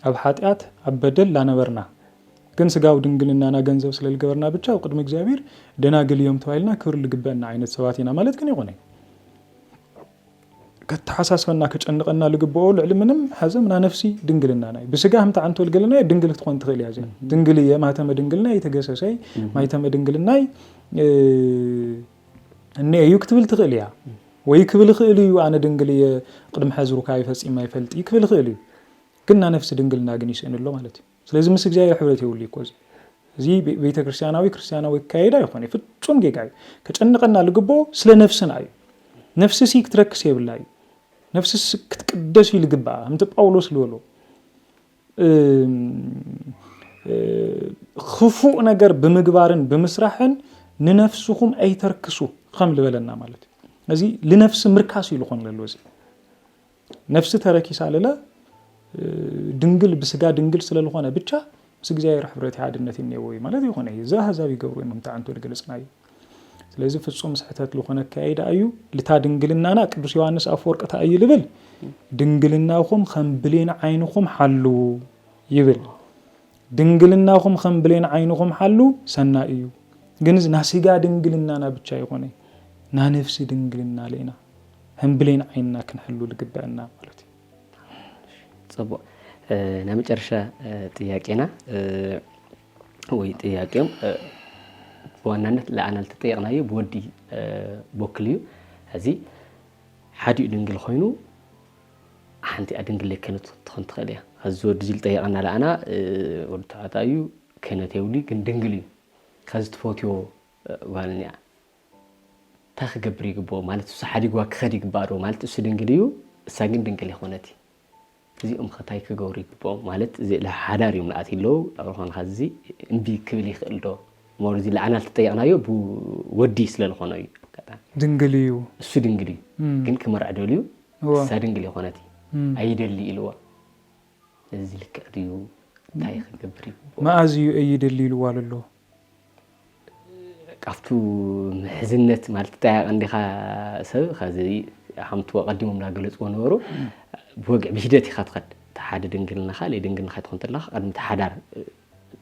ኣብ ሓጢኣት ኣብ በደል ላነበርና ግን ስጋዊ ድንግልናና ገንዘብ ስለ ዝገበርና ብቻ ኣብ ቅድሚ እግዚኣብሔር ደናግል እዮም ተባሂልና ክብሪ ዝግበአና ዓይነት ሰባት ኢና ማለት ግን ይኾነ ከተሓሳስበና ከጨንቐና ዝግብኦ ልዕሊ ምንም ሐዘም ናነፍሲ ድንግልናና እዩ ብስጋ ከምቲ ዓንቶ ልገለና ድንግል ክትኾን ትኽእል እያ እዚኣ ድንግል እየ ማህተመ ድንግልና የተገሰሰይ ማይተመ ድንግልናይ እነ እዩ ክትብል ትኽእል እያ ወይ ክብል ይኽእል እዩ ኣነ ድንግል እየ ቅድሚ ሕዚ ሩካቤ ፈፂመ ይፈልጥ እዩ ክብል ይኽእል እዩ ግን ናነፍሲ ድንግልና ግን ይስእን ኣሎ ማለት እዩ ስለዚ ምስ እግዚኣብሔር ሕብረት የብሉ እኮ እዚ እዚ ቤተ ክርስቲያናዊ ክርስቲያናዊ ኣካየዳ ይኾነ ፍጹም ጌጋ እዩ ከጨንቀና ልግብኦ ስለ ነፍስና እዩ ነፍሲ ሲ ክትረክስ የብላ እዩ ነፍሲ ክትቅደስ እዩ ልግብኣ ከምቲ ጳውሎስ ዝበሎ ክፉእ ነገር ብምግባርን ብምስራሕን ንነፍስኹም ኣይተርክሱ ከም ልበለና ማለት እዩ እዚ ልነፍሲ ምርካስ እዩ ዝኾን ለሎ እዚ ነፍሲ ተረኪሳ ልለ ድንግል ብስጋ ድንግል ስለልኾነ ብቻ ምስ እግዚኣብሔር ሕብረት ሓድነት እኔዎ እዩ ማለት ይኾነ እዩ እዚ ኣህዛብ ይገብሩ እዮም ከምቲ ዓንቶ ዝገለጽና እዩ ስለዚህ ፍጹም ስሕተት ልኾነ ኣካይዳ እዩ ልታ ድንግልናና ቅዱስ ዮሐንስ ኣፈወርቅ እንታይ እዩ ልብል ድንግልናኹም ከም ብሌን ዓይንኹም ሓልዉ ይብል ድንግልናኹም ኸም ብሌን ዓይንኹም ሓሉ ሰናይ እዩ። ግንዝ ናስጋ ድንግልናና ብቻ ኣይኾነ ናነፍሲ ድንግልና ሌና ኸም ብሌን ዓይንና ክንሕሉ ልግበእና ማለት እዩ።
ፅቡቅ ናይ መጨረሻ ጥያቄና ወይ ጥያቄም ብዋናነት ለኣና ልተጠየቅናዩ ብወዲ ቦክል እዩ እዚ ሓዲኡ ድንግል ኮይኑ ሓንቲኣ ድንግለይ ከነት ክትኾን ትኽእል እያ። ኣዚ ወዲ እዚ ልጠየቀና ለኣና ወዲ ተባዕታይ እዩ ከነት የብሉይ ግን ድንግል እዩ ከዚ ትፈትዮ ጓል እኒኣ እንታይ ክገብር ይግብኦ ማለት እሱ ሓዲግዋ ክኸድ ይግባእ ዶ ማለት እሱ ድንግል እዩ እሳ ግን ድንግል ይኾነት እዚኦም ከታይ ክገብሩ ይግብኦም ማለት እዚ ሓዳር እዮም ለኣት ይለው ኣብርኾን ኸዚ እምቢ ክብል ይኽእል ዶ ሞር እዚ ለኣና ልትጠየቅናዮ ብወዲ ስለልኾነ እዩ ድንግል እዩ
እሱ ድንግል እዩ
ግን ክመርዕ ደልዩ ንሳ ድንግል የኾነቲ ኣይደሊ ኢልዋ እዚ ልክዕ ድዩ እንታይ ክገብር ይግብኦ መኣዝ እዩ
ኣይደሊ ኢልዋ ለሎ
ካብቱ ምሕዝነት ማለት እንታይ ቀንዲኻ ሰብ ከዚ ሃምቱ ኣቀዲሞም ላገለጽዎ ነበሩ ብወግዕ ብሂደት ኢኻ ትኸድ እቲ ሓደ ድንግልና ካልእ ድንግልና ይትኾን ተለኻ ቀድሚ እቲ ሓዳር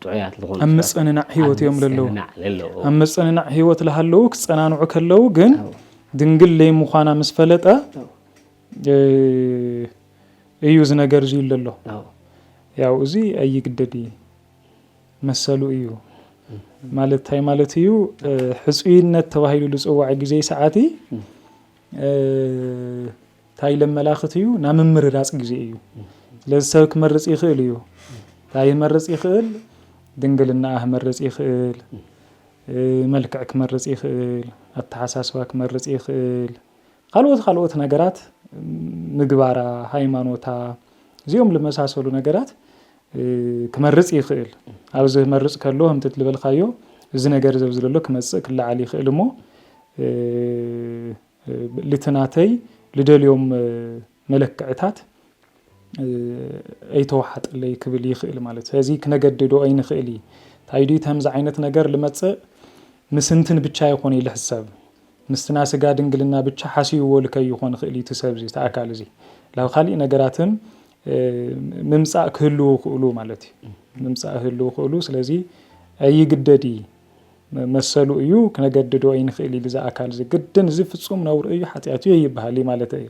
ጥዑያት ልኾኑ ኣብ ሰባት ምጽንናዕ ኣብ ህይወት
እዮም ለለዉ ምጽንናዕ ለለዎ ኣብ ምጽንናዕ ህይወት ለሃለዉ ክጸናንዑ ከለዉ ግን ኣዎ ድንግል ለይምዃና ምስ ፈለጠ ኣዎ እ፣ እዩ እዚ ነገር እዙይ ለሎ ኣዎ ያው እዚ ኣይግደድ እዩ መሰሉ እዩ ማለት እንታይ ማለት እዩ እ፣ ሕፁይነት ተባሂሉ ዝፅዋዕ ግዜ ሰዓቲ እ፣ ታይ ኢለ መላኽት እዩ ናይ ምምርራፅ ግዜ እዩ ስለዚ ሰብ ክመርፅ ይኽእል እዩ ታይ ህመርፅ ይኽእል ድንግልናኣ ህመርፅ ይኽእል መልክዕ ክመርፅ ይኽእል ኣተሓሳስባ ክመርፅ ይኽእል ካልኦት ካልኦት ነገራት ምግባራ ሃይማኖታ እዚኦም ልመሳሰሉ ነገራት ክመርፅ ይኽእል ኣብዚ ህመርፅ ከሎ ከምቲ ልበልካዮ እዚ ነገር ዘብዝለሎ ክመፅእ ክለዓል ይኽእል እሞ ልቲ ናተይ ልደልዮም መለክዕታት ኣይተዋሓጠለይ ክብል ይኽእል ማለት ስለዚ ክነገድዶ ኣይንኽእል እዩ እንታይ ድዩ ከምዚ ዓይነት ነገር ልመፅእ ምስንትን ብቻ ይኾነ ኢለ ሕሰብ ምስትና ስጋ ድንግልና ብቻ ሓስይዎ ልከይኾን ይኽእል እዩ ትሰብ እዚ ተኣካል እዚ ላብ ካሊእ ነገራትን ምምፃእ ክህልው ክእሉ ማለት እዩ ምምፃእ ህልው ክእሉ ስለዚ ኣይግደድ እዩ መሰሉ እዩ ክነገድዶ ኣይንክእል እዩ ብዛ ኣካል እዚ ግድን እዚ ፍፁም ነውሪ እዩ ሓጢኣት እዩ ይበሃል እዩ ማለት እዩ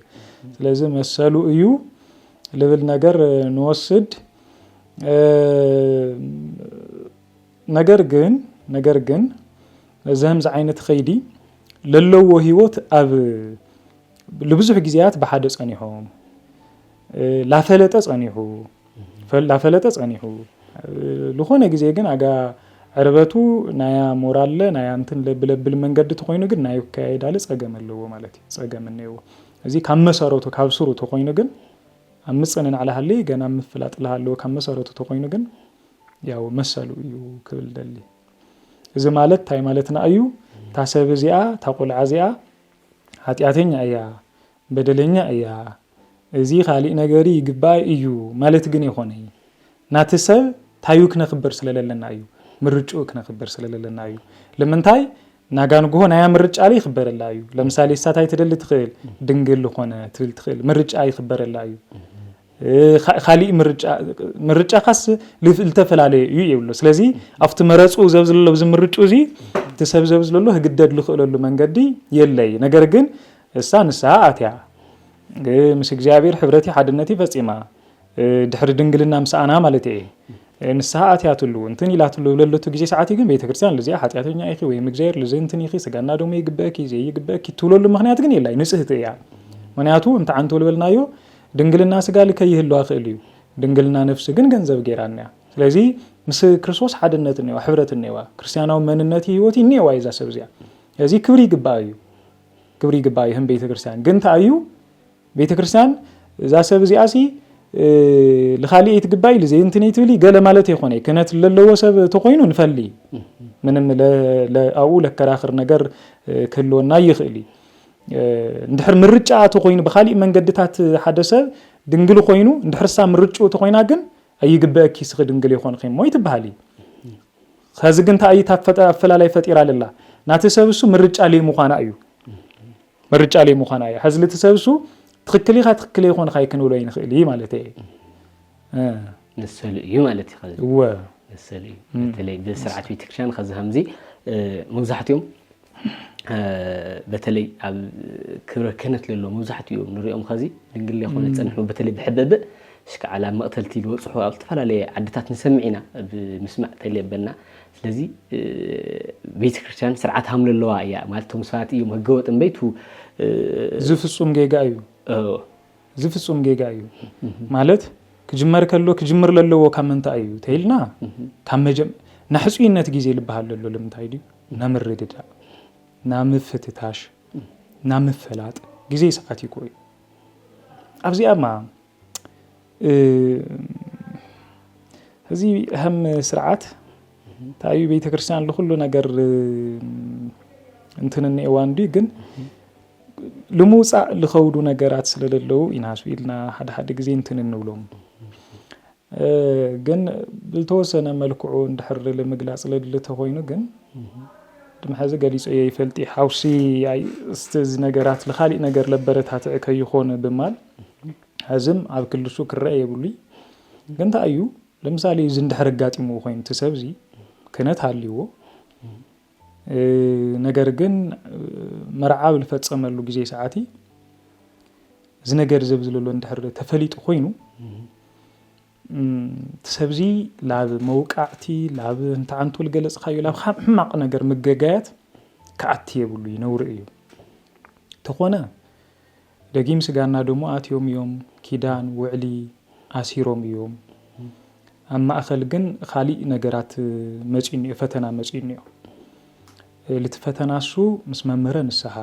ስለዚ መሰሉ እዩ ልብል ነገር ንወስድ ነገር ግን ነገር ግን እዚ ከምዚ ዓይነት ከይዲ ለለዎ ሂወት ኣብ ልብዙሕ ግዜያት ብሓደ ጸኒሖም ላፈለጠ ጸኒሑ ላፈለጠ ጸኒሑ ዝኾነ ግዜ ግን ኣጋ ዕርበቱ ናያ ሞራለ ናያ እንትን ለብለብል መንገዲ ተኾይኑ ግን ናይ ከያይዳለ ጸገም ኣለዎ ማለት እዩ ጸገም እነዎ እዚ ካብ መሰረቱ ካብ ስሩ ተኾይኑ ግን ኣብ ምጽንናዕ ልሃሊ ገና ኣብ ምፍላጥ ልሃለዎ ካብ መሰረቱ ተኾይኑ ግን ያው መሰሉ እዩ ክብል ደሊ እዚ ማለት እንታይ ማለትና እዩ እታ ሰብ እዚኣ እታ ቆልዓ እዚኣ ሓጢኣተኛ እያ በደለኛ እያ እዚ ካሊእ ነገሪ ይግበኣይ እዩ ማለት ግን የኮነይ ናቲ ሰብ ታዩ ክነክብር ስለለለና እዩ ምርጭኡ ክነክብር ስለለለና እዩ ልምንታይ ናጋ ንግሆ ናያ ምርጫ ለ ይክበረላ እዩ ለምሳሌ እሳ ታይ ትደሊ ትክእል ድንግል ልኮነ ትብል ትክእል ምርጭኣ ይክበረላ እዩ ካሊእ ምርጫ ምርጫኻስ ልተፈላለየ እዩ ይብሎ ስለዚ ኣብቲ መረፁ ዘብዝለሎ ብዚ ምርጩ እዚ እቲ ሰብ ዘብዝለሎ ህግደድ ልኽእለሉ መንገዲ የለይ ነገር ግን እሳ ንስሃ ኣትያ ምስ እግዚኣብሔር ሕብረት ሓድነት ፈፂማ ድሕሪ ድንግልና ምስኣና ማለት እየ ንስሃ ኣትያትሉ እንትን ኢላትሉ ለለቱ ግዜ ሰዓት ግን ቤተክርስትያን ልዚኣ ሓጢኣተኛ ኢኺ ወይም እግዚኣብሔር ልዚ እንትን ኢኺ ስጋና ደሞ ይግበእኪ ዘይግበእኪ ትብለሉ ምክንያት ግን የላይ ንፅህቲ እያ ምክንያቱ እንተ ዓንቶ ልበልናዮ ድንግልና ስጋ ልከ ይህልዋ ክእል እዩ ድንግልና ነፍሲ ግን ገንዘብ ገይራ እኒኣ ስለዚ ምስ ክርስቶስ ሓድነት እኒዋ ሕብረት እኒዋ ክርስትያናዊ መንነት ህይወት እኒዋ እዛ ሰብ እዚኣ እዚ ክብሪ ይግባኣ እዩ ክብሪ ይግባኣ እዩ ህም ቤተክርስትያን ግን እንታይ እዩ ቤተክርስትያን እዛ ሰብ እዚኣ ሲ ልኻሊእ ይትግባይ ልዜ እንትን ይትብሊ ገለ ማለት የኮነ ክህነት ለለዎ ሰብ ተኮይኑ ንፈሊ ምንም ኣብኡ ለከራክር ነገር ክህልወና ይኽእል እዩ እንድሕር ምርጫኣ ተኾይኑ ብኻሊእ መንገድታት ሓደ ሰብ ድንግል ኾይኑ እንድሕር እሳ ምርጭኡ ተኾይና ግን ኣይግበእኪ እስኺ ድንግል የኾንኺ እሞ ኣይትበሃሊ ከዚ ግን እንታይ እታ ኣፈላላይ ፈጢራ ለላ ናቲ ሰብ እሱ ምርጫ ለይ ምዃና እዩ ምርጫ ለይ ምዃና እዩ ሐዚ ልቲ ሰብ እሱ ትክክል ኢኻ ትክክል ኣይኾንኻ ክንብሎ ይንኽእል እዩ ማለት እየ
መሰሉ እዩ ማለት እዩ ከዚ መሰሉ እዩ በተለይ ብስርዓት ቤተክርስትያን ከዚ ከምዚ መብዛሕትኦም በተለይ ኣብ ክብረ ክህነት ለሎ መብዛሕትኡ ንሪኦም ኸዚ ድንግል ለይኮነ ዝፀንሑ በተለይ ብሕበብእ ሽከዓል ኣብ መቕተልቲ ዝበፅሑ ኣብ ዝተፈላለየ ዓድታት ንሰምዕ ኢና ብምስማዕ ተልየበና ስለዚ ቤተ ክርስቲያን ስርዓት ሃም ለለዋ እያ ማለት ቶም ሰባት እዮም ህገወጥ እምበይቱ ዝፍፁም ጌጋ እዩ እዚ ፍጹም ጌጋ እዩ ማለት ክጅመር ከሎ ክጅምር ለለዎ ካብ ምንታይ እዩ ተይልና ካብ መጀም ናሕጹይነት ግዜ ልበሃል ለሎ ልምንታይ ድዩ ናምርድዳእ ናምፍትታሽ ናምፈላጥ ግዜ ሰዓት ይኮ እዩ ኣብዚኣማ እዚ ህም ስርዓት ታዩ ቤተ ክርስቲያን ልኩሉ ነገር እንትንንኤዋ እንዲ ግን ልምውፃእ ልኸብዱ ነገራት ስለለለዉ ኢናሱ ኢልና ሓደ ሓደ ግዜ እንትን እንብሎም ግን ብልተወሰነ መልክዑ እንድሕር ልምግላፅ ለድሊ ተኾይኑ ግን ድምሐዚ ገሊፆ እየ ይፈልጢ ሓውሲ ስትዚ ነገራት ልኻሊእ ነገር ለበረታትዕ ከይኾነ ብማል ሕዝም ኣብ ክልሱ ክረአ የብሉይ ግን እንታይ እዩ
ለምሳሌ እዚ እንድሕር ኣጋጢምዎ ኮይኑ እቲ ሰብዚ ክነት ሃልይዎ ነገር ግን መርዓ ኣብ ዝፈፀመሉ ግዜ ሰዓት እዚ ነገር እዚ ኣብዚ ዘሎ እንድሕር ተፈሊጡ ኮይኑ ሰብዚ ላብ መውቃዕቲ ላብ እንተዓንቱ ዝገለፅካዮ ላብ ካብ ሕማቕ ነገር ምገጋያት ክኣቲ የብሉ ይነውሪ እዩ ተኾነ ደጊም ስጋና ደሙ ኣትዮም እዮም ኪዳን ውዕሊ ኣሲሮም እዮም ኣብ ማእኸል ግን ኻሊእ ነገራት መፂኡ እኒኦ ፈተና መፂኡ እኒኦ ልቲ ፈተና እሱ ምስ መምህረ ንስሃ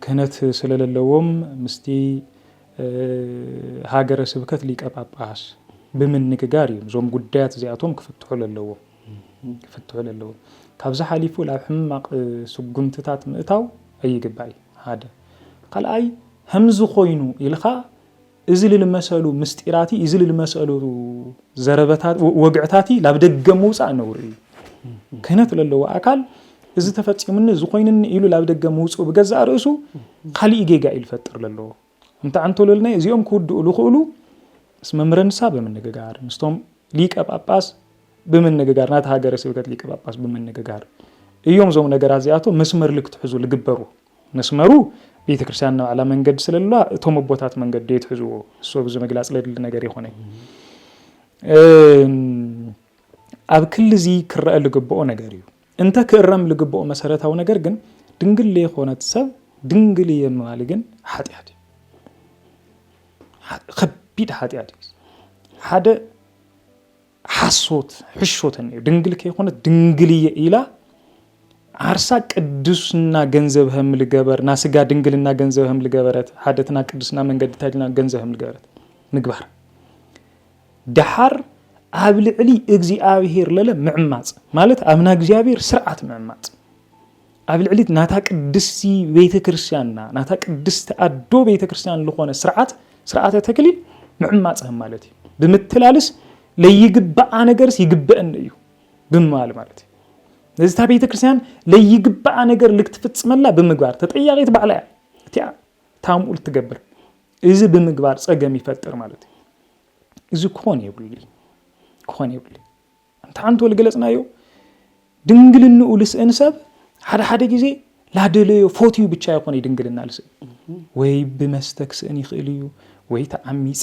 ክህነት ስለለለዎም ምስቲ ሃገረ ስብከት ሊቀ ጳጳስ ብምንግጋር እዮም እዞም ጉዳያት እዚኣቶም ክፍትሑ ለለዎም። ክፍትሑ ለለዎ። ካብዚ ሓሊፉ ላብ ሕማቅ ስጉምትታት ምእታው ኣይግባይ ሓደ ካልኣይ ሀምዚ ኮይኑ ኢልኻ እዚ ልልመሰሉ ምስጢራቲ እዚ ልልመሰሉ ዘረበታ ወግዕታቲ ላብ ደገ ምውፃእ ነውሪ እዩ። ክህነት ለለዎ ኣካል እዚ ተፈፂሙኒ እዚ ኮይኑኒ ኢሉ ላብ ደገ ምውፅኡ ብገዛእ ርእሱ ካሊእ ጌጋ እዩ ልፈጥር ለለዎ። እንተ ኣንቶሎልናይ እዚኦም ክውድኡ ዝኽእሉ ምስ መምህረ ንስሃ ብምንግጋር ምስቶም ሊቀ ጳጳስ ብምንግጋር ናቲ ሃገረ ስብከት ሊቀ ጳጳስ ብምንግጋር እዮም እዞም ነገራት እዚኣቶም መስመር ልክትሕዙ ልግበሩ መስመሩ ቤተ ክርስቲያን ናባዕላ መንገዲ ስለለዋ እቶም ኣቦታት መንገዲ የትሕዝዎ እሶ ብዚ ምግላፅ ለድሊ ነገር ይኮነ ኣብ ክሊ እዚ ክረአ ልግብኦ ነገር እዩ እንተ ክእረም ልግብኦ መሰረታዊ ነገር ግን ድንግል ለይኮነት ሰብ ድንግል እየ ምባል ግን ሓጢኣት እዩ። ከቢድ ሓጢኣት እዩ። ሓደ ሓሶት ሕሾተን እዩ። ድንግል ከይኮነት ድንግል እየ ኢላ ዓርሳ ቅዱስና ገንዘብ ህም ልገበር ና ስጋ ድንግልና ገንዘብ ህም ልገበረት ሓደትና ቅዱስና መንገድታ ኢልና ገንዘብ ህም ልገበረት ምግባር ደሓር ኣብ ልዕሊ እግዚኣብሄር ለለ ምዕማጽ ማለት ኣብ ናይ እግዚኣብሄር ስርዓት ምዕማጽ ኣብ ልዕሊ ናታ ቅድስቲ ቤተ ክርስቲያንና ናታ ቅድስቲ ኣዶ ቤተ ክርስቲያን ዝኾነ ስርዓት ስርዓተ ተክሊል ምዕማጽ ማለት እዩ ብምትላልስ ለይግባኣ ነገርስ ይግበአን እዩ ብምባል ማለት እዩ ነዚ እታ ቤተ ክርስቲያን ለይግባኣ ነገር ልክትፍጽመላ ብምግባር ተጠያቂት ባዕላ እያ እቲኣ ታምኡል ትገብር እዚ ብምግባር ፀገም ይፈጥር ማለት እዩ እዚ ክኾን የብሉ ክኾን የብሉ እንተ ሓንቲ ወልገለፅናዮ ድንግልንኡ ልስእን ሰብ ሓደ ሓደ ግዜ ላደለዮ ፎትዩ ብቻ ይኾነ ድንግልና ልስእን ወይ ብመስተ ክስእን ይኽእል እዩ ወይ ተዓሚፃ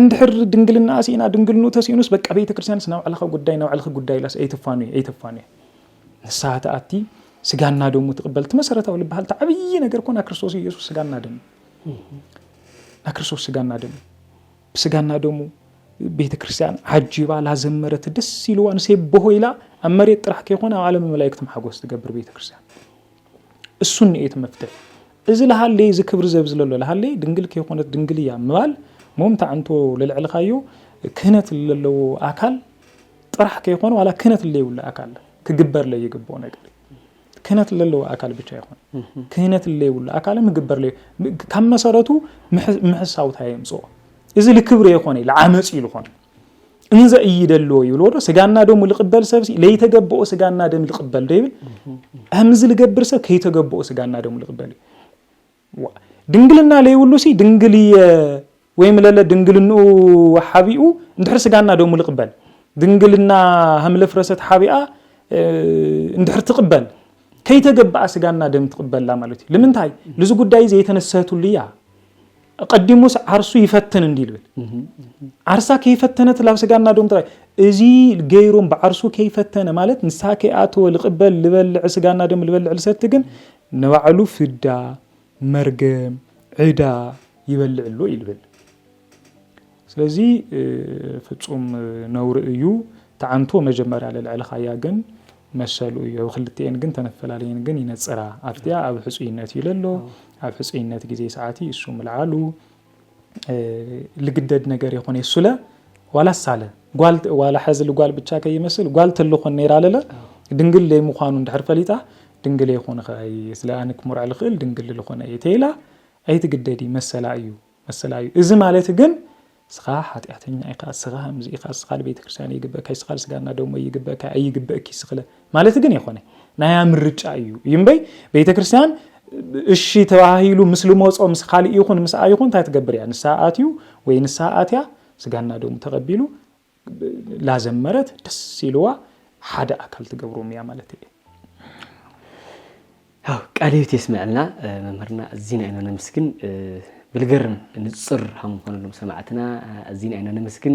እንድሕር ድንግልናኣ ሲኢና ድንግልንኡ ተሲኢኑስ በቃ ቤተክርስትያንስ ናይ ባዕልኻ ጉዳይ ናይ ባዕልኺ ጉዳይ ኢላስ ኣይትፋኑየ ኣይትፋኑየ ንስሓ ትኣቲ ስጋና ደሙ ትቕበል እቲ መሰረታዊ ዝበሃል እቲ ዓብዪ ነገር ኮና ክርስቶስ ኢየሱስ ስጋና ደሙ ናይ ክርስቶስ ስጋና ደሙ ብስጋና ደሙ ቤተ ክርስቲያን ዓጂባ ላዘመረት ደስ ኢልዋ ንሴብሆ ኢላ ኣብ መሬት ጥራሕ ከይኮነ ኣብ ዓለም መላእክቲ ሓጎስ ትገብር ቤተ ክርስቲያን እሱን ንኤት መፍትሕ እዚ ለሃለይ እዚ ክብሪ ዘብዝለሎ ለሃለይ ድንግል ከይኮነት ድንግል እያ ምባል ሞምታ ዕንቶ ለልዕልካዮ ክህነት ለለዎ ኣካል ጥራሕ ከይኮነ ዋላ ክህነት ለይብሉ ኣካል ክግበር ለይግብኦ ነገር ክህነት ለለዎ ኣካል ብቻ ይኾን ክህነት ለይብሉ ኣካል ምግበር ለይ ካብ መሰረቱ ምሕሳውታ የምፅኦ እዚ ልክብሪ የኮነ ለዓመፅ እዩ ዝኾነ እንዘ እይደልዎ ይብልዎ ዶ ስጋና ደሙ ልቅበል ሰብ ለይተገበኦ ስጋና ደም ልቅበል ዶ ይብል ከምዚ ልገብር ሰብ ከይተገበኦ ስጋና ደሙ ልቅበል እዩ ድንግልና ለይብሉ ሲ ድንግል እየ ወይም ለለ ድንግልንኡ ሓቢኡ እንድሕር ስጋና ደሙ ልቅበል ድንግልና ሃምለፍረሰት ሓቢኣ እንድሕር ትቅበል ከይተገበኣ ስጋና ደም ትቅበላ ማለት እዩ ልምንታይ ልዚ ጉዳይ እዚ የተነሰህትሉ እያ ኣቐዲሙስ ዓርሱ ይፈትን እንዲ ልብል ዓርሳ ከይፈተነት ላብ ስጋ እናዶም ጥራይ እዚ ገይሩም ብዓርሱ ከይፈተነ ማለት ንሳ ከይኣተወ ልቕበል ልበልዕ ስጋ እናደም ልበልዕ ልሰቲ ግን ንባዕሉ ፍዳ መርገም ዕዳ ይበልዕ ኣሎ ይልብል ስለዚ ፍጹም ነውሪ እዩ ትዓንቶ መጀመርያ ለልዕልካያ ግን መሰሉ እዩ ኣብ ክልቲኤን ግን ተነፈላለየን ግን ይነጽራ ኣብቲኣ ኣብ ሕጹይነት እዩ ለሎ ኣብ ሕጹይነት ግዜ ሰዓቲ እሱ ምልዓሉ ልግደድ ነገር የኾነ እሱለ ዋላ ሳለ ጓል ዋላ ሐዚ ልጓል ብቻ ከይመስል ጓል ተልኾን ነይራ ለለ ድንግል ለይ ምዃኑ እንድሕር ፈሊጣ ድንግል የኾን ኸይ ስለ ኣንክ ሙርዕ ልኽእል ድንግል ልኾነ እየ ተይላ ኣይትግደዲ መሰላ እዩ መሰላ እዩ እዚ ማለት ግን እስኻ ሓጢኣተኛ ኢኻ እስኻ ከምዚ ኢኻ እስኻ ንቤተክርስትያን ኣይግበእካ እስኻ ንስጋና ደሞ ኣይግበእካ ኣይግበእኪ እስኽለ ማለት ግን የኾነ ናያ ምርጫ እዩ እዩ እምበይ ቤተክርስትያን እሺ ተባሂሉ ምስ ልመጾ ምስ ካልእ ይኹን ምስኣ ይኹን እንታይ ትገብር እያ ንስሓ ኣትዩ ወይ ንስሓ ኣትያ ስጋና ደሙ ተቐቢሉ ላዘመረት ደስ ኢልዋ ሓደ ኣካል ትገብሮም እያ ማለት እየ
ቃል ህይወት የስምዐልና መምህርና እዚና ኢና ነመስግን ብልገርም ንፅር ሃምኾነሎም ሰማዕትና እዚና ኢና ነመስግን